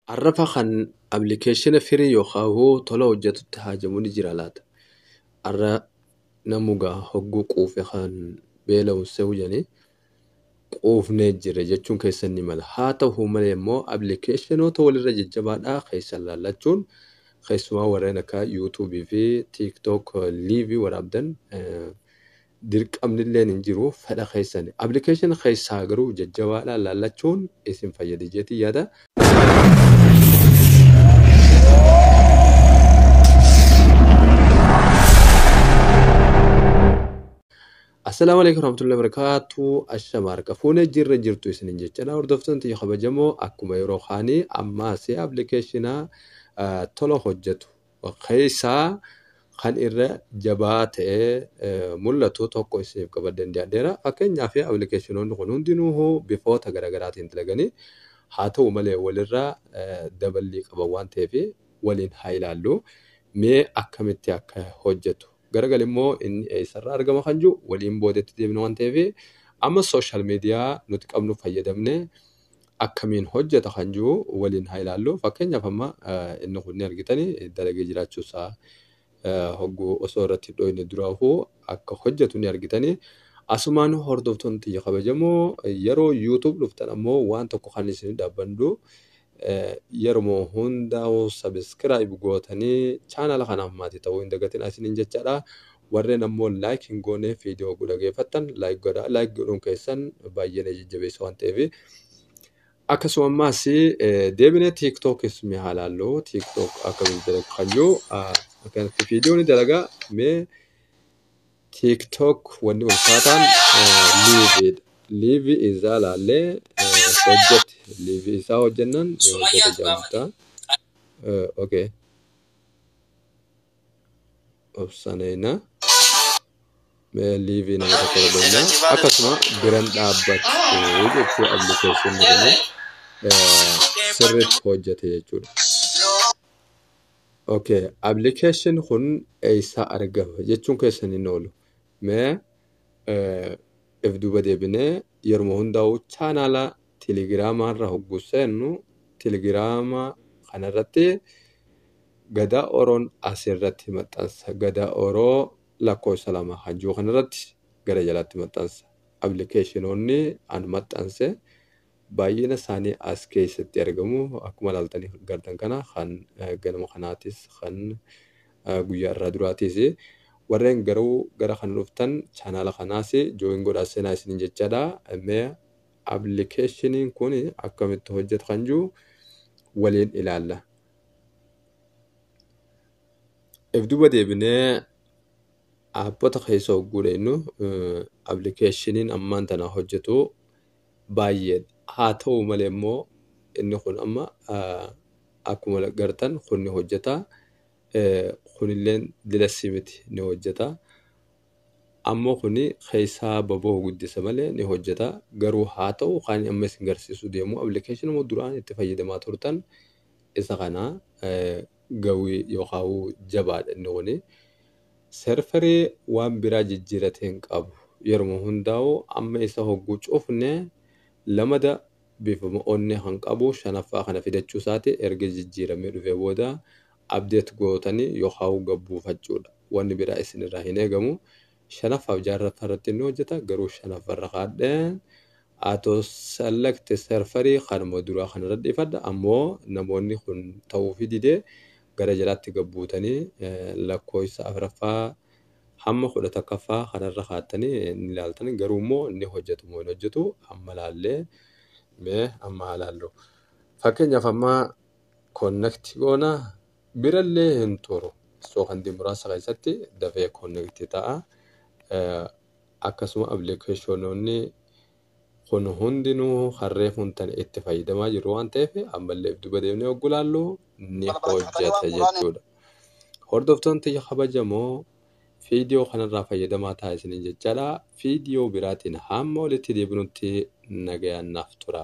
Arrafa kan application firii yookaan hoo tola hojjatutti haajamu ni jira laata? Arra namu gaa hogguu quufe kan beela'uun se'u jedhanii quufnee jirra jechuun keessan ni mala. Haa ta'u malee immoo applicatiinoota walirra jajjabaadhaa keessan laallachuun keessumaa warreen akka YouTube fi TikTok live waraabdan eh, dirqamnilleen hin jiru fedha keessani. Application keessaa garuu jajjabaadha laallachuun isin fayyadi jeetiin yaada. Assalaamu alaikum warahmatullahi wabarakatuh. Ashama harka fuune jirra jirtu isinin jechadha. Hordoftoonni tiyya kabajamoo akkuma yeroo kaanii ammaas appilikeeshina tola hojjetu keessaa kan irra jabaa ta'ee mul'atu tokko isiniif qabadheen dhiyaadheera. Fakkeenyaaf appilikeeshinoonni kun hundinuu bifoota garaagaraatiin dalaganii haa ta'u malee walirraa daballii qaban waan ta'eef waliin haa ilaallu. Mee akkamitti akka hojjetu garagal immoo inni eessarraa argama kan jiru waliin boodetti deebina waan ta'eef amma sooshaal miidiyaa nuti qabnu fayyadamne akkamiin hojjeta kan jiru waliin haa ilaallu. Fakkeenyaaf amma inni kun ni argitani dalagee jiraachuu isaa hogguu osoo irratti hin dhooyne duraafuu akka hojjetu ni argitani. Asumaan hordoftoonni tiyya kabajamoo yeroo YouTube dhuftan ammoo waan tokko kan isin dhaabbandu yeruma hundaa'u subscribe gootanii chaanala kanaaf maatii ta'uu hin dagatina isiniin jechaadha. Warren ammoo like hin goone video hogguu dhageeffattan like godhaa like godhuun keessan baay'ee na jajjabeessa waan ta'eef. Akkasuma ammaas deebinee tiiktookiis mee haa laallu tiiktook akkamiin dalagu kan jiru akkanatti video ni dalaga mee tiiktook wanni ulfaataan liiviidha. Liivii isaa laallee hojjete liivii isaa hojjennaan hojjete jaamta. Okay. obsaneena mee liivii nama tokko godheenna akkasuma biran dhaabbattu jechuu appilikeeshin jedhanii sirriitti hojjete jechuudha. Okay, appilikeeshin kun eessaa argama jechuun keessan hin oolu. Mee if duuba deebinee yeruma hundaa'u chaanaala Telegrama irra hoggu seennu Telegrama kana irratti Gadaa Oroon as irratti maxxansa. Gadaa Oroo lakkoofsa 2 kan jiru kana irratti gara jalaatti maxxansa. Appilikeeshinoonni an maxxanse baay'ina isaanii as keessatti argamu. Akkuma ilaaltanii gartan kana kan ganama kanaatis kan guyyaa irraa duraatiis. Warreen garuu gara kana dhuftan chaanaala kanaas jooyin godhaa seenaa isiniin jechaadha. Mee Applikeeshiniin kun akkamitti hojjeta kan jiru waliin ilaalla. If duuba deebinee aappota keessa hogguu dheenyu appilikeeshiniin ammaan tana hojjetu baay'ee haa ta'u malee immoo inni kun amma akkuma gartan kun ni hojjeta kunilleen dilessii miti ni hojjeta. Ammo kuni keessaa baboho guddisa malee ni hojjeta. Garuu haa ta'u kaani amma isin garsiisuu deemu applicationuma duraan itti fayyadamaa turtan isa kana gawi yokaawu jabaadha inni kuni. Serferi waan biraa jijjiirate hin qabu. Yeruma hundaawu amma isa hogguu cufne lamada bifuma onnee kan qabu shanaffaa kana fidachuu isaati erga jijjiiramee dhufee booda update gootani yokaau gabbuufachudha wani bira isinira hin egamu shanaffaf jaarraffa irratti ni hojjeta garuu shanaffa irra kaadhen auto select serferi kanuma duraa kanarra dhiifadha ammo namoonni kun tauufi dide gara jalaatti gabbuutani lakkooysa afraffa hamma kudha takkaffa kanarra kaattani ni laaltan garuu immo ni hojjetu moo hin hojjetu amma laallee mee amma haa laallu fakkeenyaf amma Connect goona birallee hin turu sookandii muraasa keessatti dafee connect ta'a akkasuma appilikeeshinoonni kun hundinuu harree kun tan itti fayyadamaa jiru waan ta'eef ammallee if duba deemnee oggu laallu ni hojjeta jechuudha. Hordoftoon tiyya kabajamoo fiidiyoo kanarraa fayyadamaa ta'a isiniin jechaadha. Fiidiyoo biraatiin hamma walitti deebinutti nagayaan naaf tura.